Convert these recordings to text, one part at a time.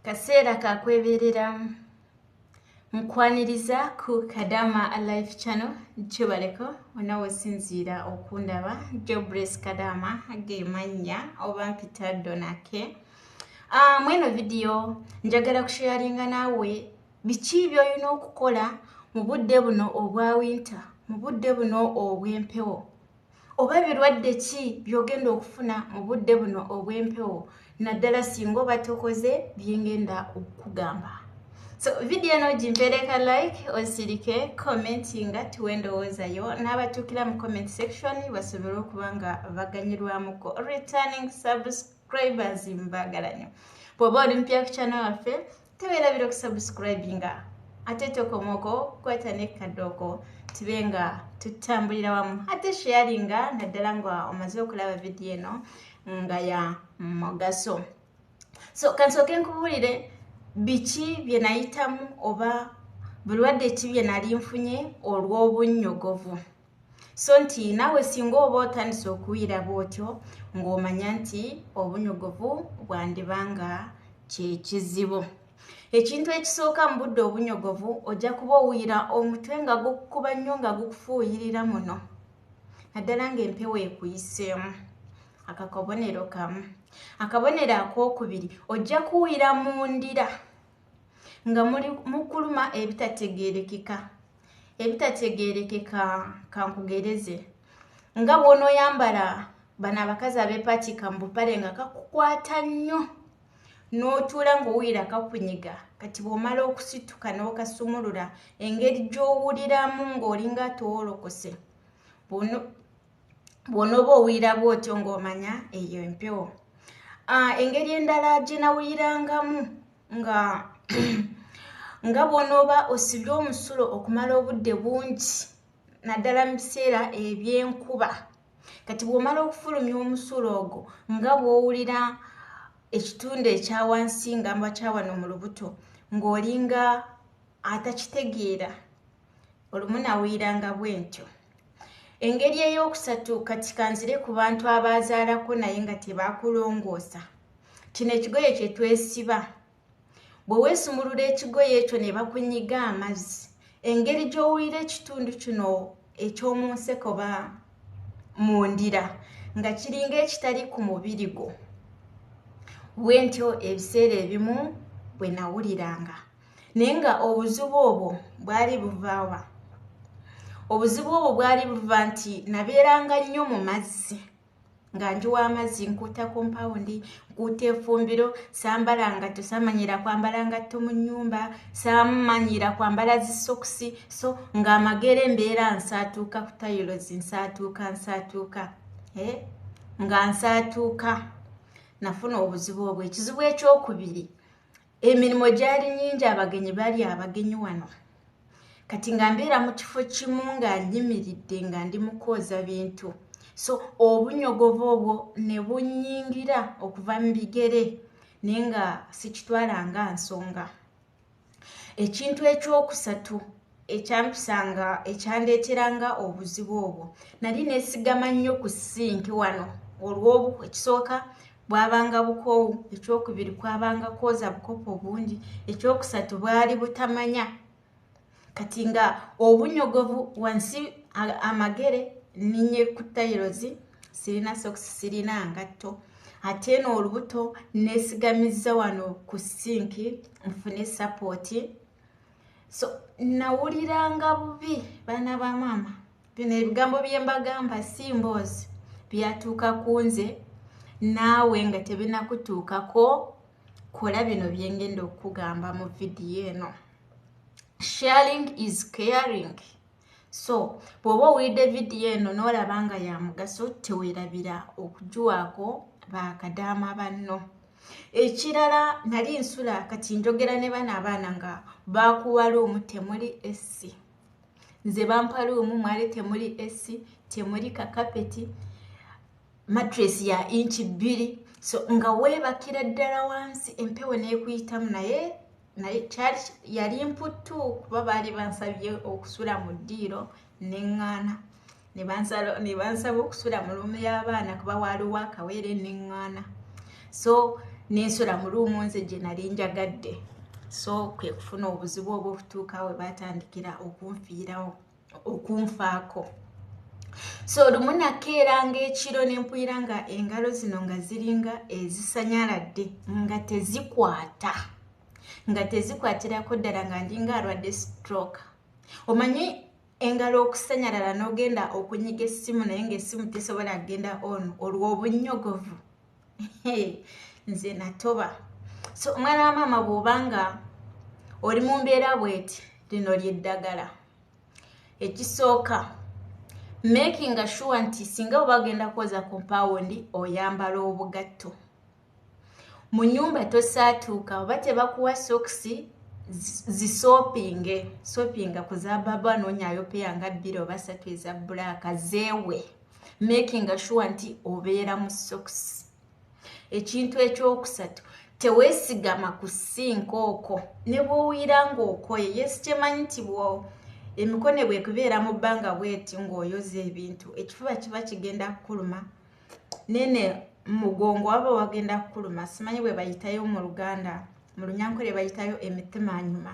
kaseera kakwebereramu nkwaniriza ku kadama alive channel kibaleko onawe sinziira okundaba jobres kadama gemannya oba mpita donake ah, mweno vidiyo njagala kusheyaringa naawe biki byolina okukola mu budde buno obwa winta mu budde buno obw'empewo oba birwadde ki byogenda okufuna mu budde buno obw'empewo naddala singa oba tokoze byengenda okukugamba so vidiyo eno gimpeereka like osirike commenti nga tuwe endowoozayo n'abatuukira mu comment section basobole okuba nga baganyirwamuko returning subscribers mbagalanyo bwoba oli mpya ku kyana waffe tewerabira okusubscribinga ate tokomoko kwata ne kadooko tube nga tutambulira wamu ate sharinga naddala nga omaze okulaba vidiyo eno nga ya mugaso so kansooke nkubuulire biki bye nayitamu oba bulwadde ki bye nali nfunye olw'obunnyogovu so nti naawe singa oba otandise okuwulira bw'otyo ng'omanya nti obunyogovu bwandiba nga kye kizibu ekintu ekisooka mu budde obunyogovu ojja kuba owulira omutwe nga gukukuba nnyo nga gukufuuyirira muno naddala ng'empewo ekuyiseemu akakabonero kamu akabonero ak'okubiri ojja kuwulira mu ndira nga muli mukuluma ebitategerekeka ebitategerekeka kankugereze nga bwonoyambala bano abakazi abepakika mubupale nga kakukwata nnyo n'otuula ng'owulira kakunyiga kati bw'omala okusituka n'okasumulula engeri gy'owuliramu ng'olinga towolokose bw'onooba owulira bw'otyo ng'omanya eyo empewo ah, engeri endala gye nawulirangamu nga nga bw'onooba osibye omusulo okumala obudde bungi naddala mu biseera eby'enkuba kati bw'omala okufulumya omusulo ogwo nga bw'owulira ekitundu ekya wansi nga mba kya wano mu lubuto ng'olinga atakitegeera olumu nawuliranga bwentyo engeri ey'okusatu kati kanzire ku bantu abaazaalako naye nga tebakulongoosa kino ekigoye kye twesiba bwe weesumulula ekigoye ekyo ne bakunyiga amazzi engeri gy'owulira ekitundu kino eky'omu nseko ba mu ndira nga kiringa ekitali ku mubiri gwo bwentyo ebiseera ebimu bwe nawuliranga naye nga obuzibu obwo bwali buvaawa obuzibu obwo bwali buva nti nabeeranga nnyo mu mazzi nga ndi w'amazzi nkuuta kompawundi nkuuta efumbiro sambala nga tosamanyira kwambala ngatto mu nnyumba samanyira kwambala zisokisi so ng'amagere mbeera nsaatuuka ku tayilozi nsaatuuka nsaatuuka eh? nga nsaatuuka nafuna obuzibu obwo ekizibu ekyokubiri emirimu gyali nyingi abagenyi bali abagenyi wano kati nga mbeera mu kifo kimu nga nyimiridde nga ndi mukwoza bintu so obunyogovu obwo ne bunyingira okuva mu bigere naye nga sikitwala nga nsonga ekintu ekyokusatu ekyampisanga ekyandeeteranga obuzibu obwo nali nesigama nnyo ku sinki wano olw'obu ekisooka bwabanga bukoowu ekyokubiri kwabanga kwoza bukopo bungi ekyokusatu bwali butamanya kati nga obunyogovu wansi amagere ninye ku tairozi sirina soks sirina ngatto ate no olubuto nesigamizza wano ku sinki nfune sapoti so nawuliranga bubi baana ba maama bino ebigambo bye mbagamba si mboozi byatuuka ku nze naawe nga tebinakutuukako kola bino byengenda okukugamba mu vidiyo eno sharing is caring so bw'oba owulidde vidiyo eno n'olaba nga ya mugaso teweerabira okugiwaako bakadaama banno ekirala nali nsula kati njogera ne bana abaana nga bakuwa luumu temuli essi nze bampa luumu mwali temuli essi temuli kakapeti matres ya inki bbiri so nga weebakira ddala wansi empewo n'ekuyitamu naye naye kyali yali mputtu kuba baali bansabye okusula mu ddiiro neŋŋaana ne bansaba okusula mu luumu y'abaana kuba waaliwo akaweere neŋŋaana so nensula mu luumu nze gye nali njagadde so kwe kufuna obuzibu obw'okutuuka we baatandikira okunfiirawo okunfaako so olumu nakeeranga ekiro nempulira nga engalo zino nga ziringa ezisanyaladde nga tezikwata nga tezikwatirako ddala nga ndinga alwadde stroke omanyi engalo okusanyalala n'ogenda okunyiga essimu naye ngaessimu tesobola kugenda on olw'obunnyogovu nze natoba so omwana wa maama bwobanga oli mu mbeera bweti lino lyeddagala ekisooka making sure nti singa oba agenda kwoza kompawundi oyambala obugatto mu nyumba tosaatuuka oba tebakuwa sokisi zisopinge sopinga kuzababa nonyayo peya nga bbiri oba satu eza bulaaka zeewe making sure nti obeera mu sokisi ekintu ekyokusatu teweesigama ku sinka oko ne bwowuyira ngaokoye yesi kyemanyi nti emikone bwekubeera mu bbanga bweti ngaoyoza ebintu ekifuba kiba kigenda kukuluma nene mugongo waba wagenda kukuluma simanyi bwebayitayo mu luganda mu lunyankole bayitayo emitima nyuma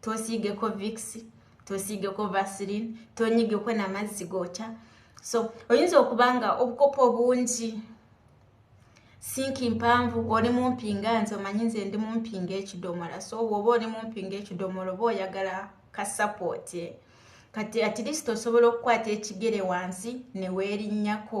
tosiigeko vix tosiigeko vasilin tonyigeko namazzi gookya so oyinza okuba nga obukopo obungi sinki mpanvu oli mumpi nga nze omanyi nze ndi mumpi nga ekidomola so woba oli mumpi nga ekidomola oba oyagala kasapoti kati atilisiti osobola okukwata ekigere wansi neweerinnyako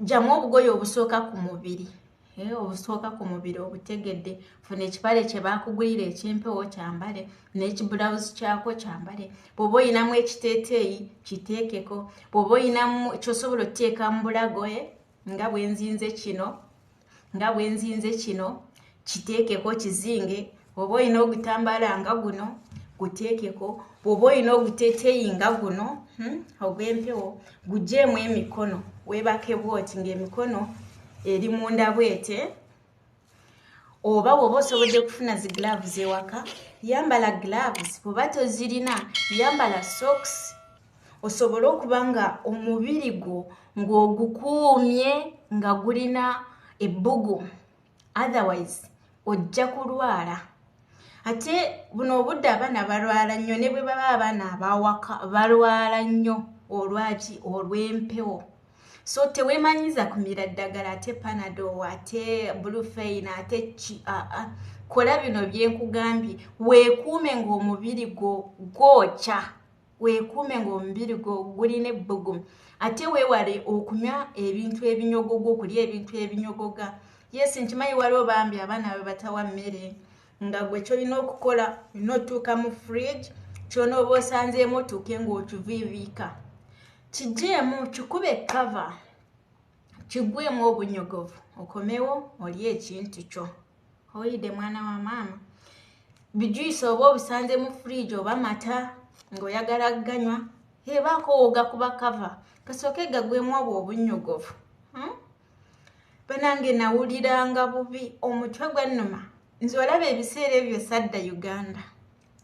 jjamu obugoye obusooka ku mubiri eh, obusooka ku mubiri obutegedde funa ekipale kye baakugulira ekyempewo kyambale n'ekibulawuzi kyako kyambale bw'oba olinamu ekiteeteeyi kiteekeko bw'oba olinamu kyosobola oteeka mu bulagoye eh, nga bwenzinze kino nga bwenzinze kino kiteekeko kizinge oba olina ogutambala nga guno guteekeko bwoba olina oguteteeyi nga guno hmm, ogw'empewo gujeemu emikono weebake bwoti ng'emikono eri munda bwete oba bwoba osobodde okufuna zi gloves ewaka yambala gloves bwoba tozirina yambala socks osobole okuba nga omubiri gwo ng'ogukuumye nga gulina ebbugu otherwise ojja kulwala ate buno obudde abaana balwala nnyo ne bwe baba abaana abawaka balwala nnyo olwaki olw'empewo so teweemanyiza kumira ddagala ate panado ate bulufeina ate ki aa kola bino byenkugambye weekuume ng'omubiri gwo gwokya weekuume ng'omubiri gwo gulina ebbugumu ate weewale okunywa ebintu ebinyogoga okulya ebintu ebinyogoga yesi nkimanyi waliwo bambi abaana be batawa mmere nga gwe kyolina okukola olina otuuka mu fridge kyona oba osanzeemu otuuke ng'okiviiviika kijeemu kikube kava kigwemu obunyogovu okomewo oli ekintu kyo oyidde mwana wa maama bijuyisa oba obisanze mu fridge oba mata ng'oyagala ganywa ebaako wogakuba kava kasooke gagwemu obwo obunnyogovu hmm? banange nawuliranga bubi omutwe gwannuma nze olaba ebiseera ebyo sadda uganda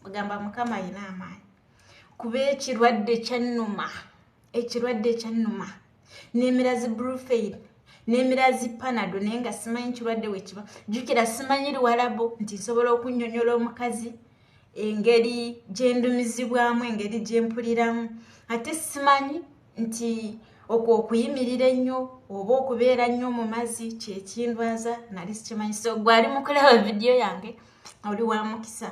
ogamba mukama ayina amaanyi kuba ekirwadde kyannuma ekirwadde ekyannuma nemira zi brufail nemira zi panado naye nga simanyi kirwadde wekiba jukira simanyi liwalabo nti nsobola okunyonyola omukazi engeri gyendumizibwamu engeri gyempuliramu ate simanyi nti okwo okuyimirira ennyo oba okubeera nnyo mu mazzi kyekindwaza nali sikimanyi so gwali mukulaba vidiyo yange oli wa mukisa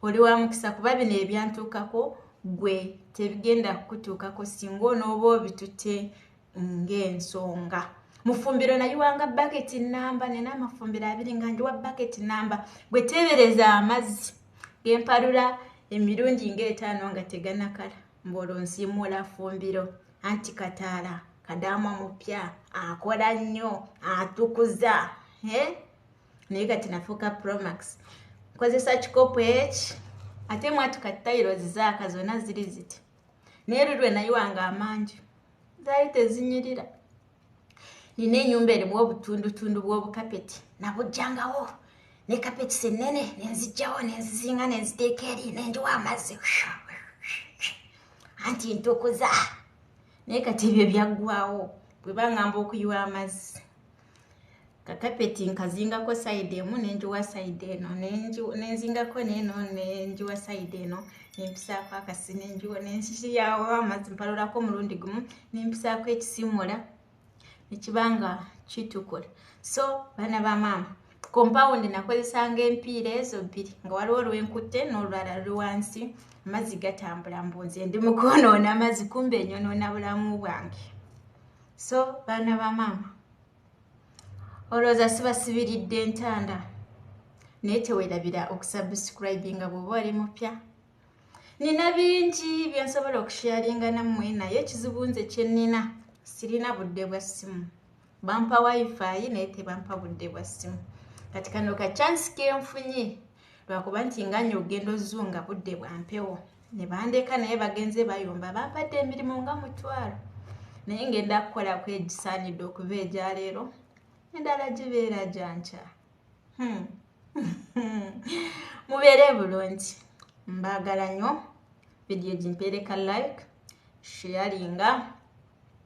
oli wa mukisa kuba bino ebyantuukako gwe tebigenda kukutuukako singa onooba obitute ng'ensonga mufumbiro nayiwanga baketi namba nina amafumbiro abiri nga ndiwa baketi namba gwe teebereza amazzi gempalula emirundi ng'etaano nga teganakala mbaolwo nsiimuula fumbiro anti kataala kadaama mupya akola nnyo atukuza eh? naye kati nafuuka promax nkozesa kikopo eki ate mwati kati tayiro zizaaka zonna ziri ziti naye lulwe nayiwanga amangi zaali tezinyirira nina enyumba erimu obutundutundu bw'obukapeti nabujjangawo ne kapeti sennene nenzijjawo nenzizinga nenziteeka eri nenjiwa amazzi anti ntukuza naye kati ebyo byaggwawo bwebangamba okuyiwa amazzi kakapeti nkazingako sayidi emu nenjiwa sayidi eno nenzingako neeno nenjiwa sayidi eno nempisaako akasi nenjiwa nensiyawo amazzi mpalulako omulundi gumu nempisaako ekisimula nekibanga kitukula so baana ba maama kompawundi nakozesanga empiira ezo bbiri nga waliwo olwenkutte n'olulala luli wansi amazzi gatambula mbunze ndi mukwonoona amazzi kumba enyonoona bulamu bwange so baana ba maama olowooza sibasibiridde entanda naye tewerabira okusubscribinga bweoba oli mupya nina bingi byensobola okusharinga nammwe naye ekizibu nze kyenina sirina budde bwa ssimu bampa wifi naye tebampa budde bwa ssimu kati kano ka chansi kenfunye lwakuba nti nga nyo ogenda ozunga budde bwa mpewo ne bandeka naye bagenze bayomba bampadde emirimu nga mutwalo naye ngenda kukola ku egisaanidde okuva egya leero endala gibeera gyankya hmm. mubeere bulungi mbaagala nyo vidiyo gimpeereka like sharinga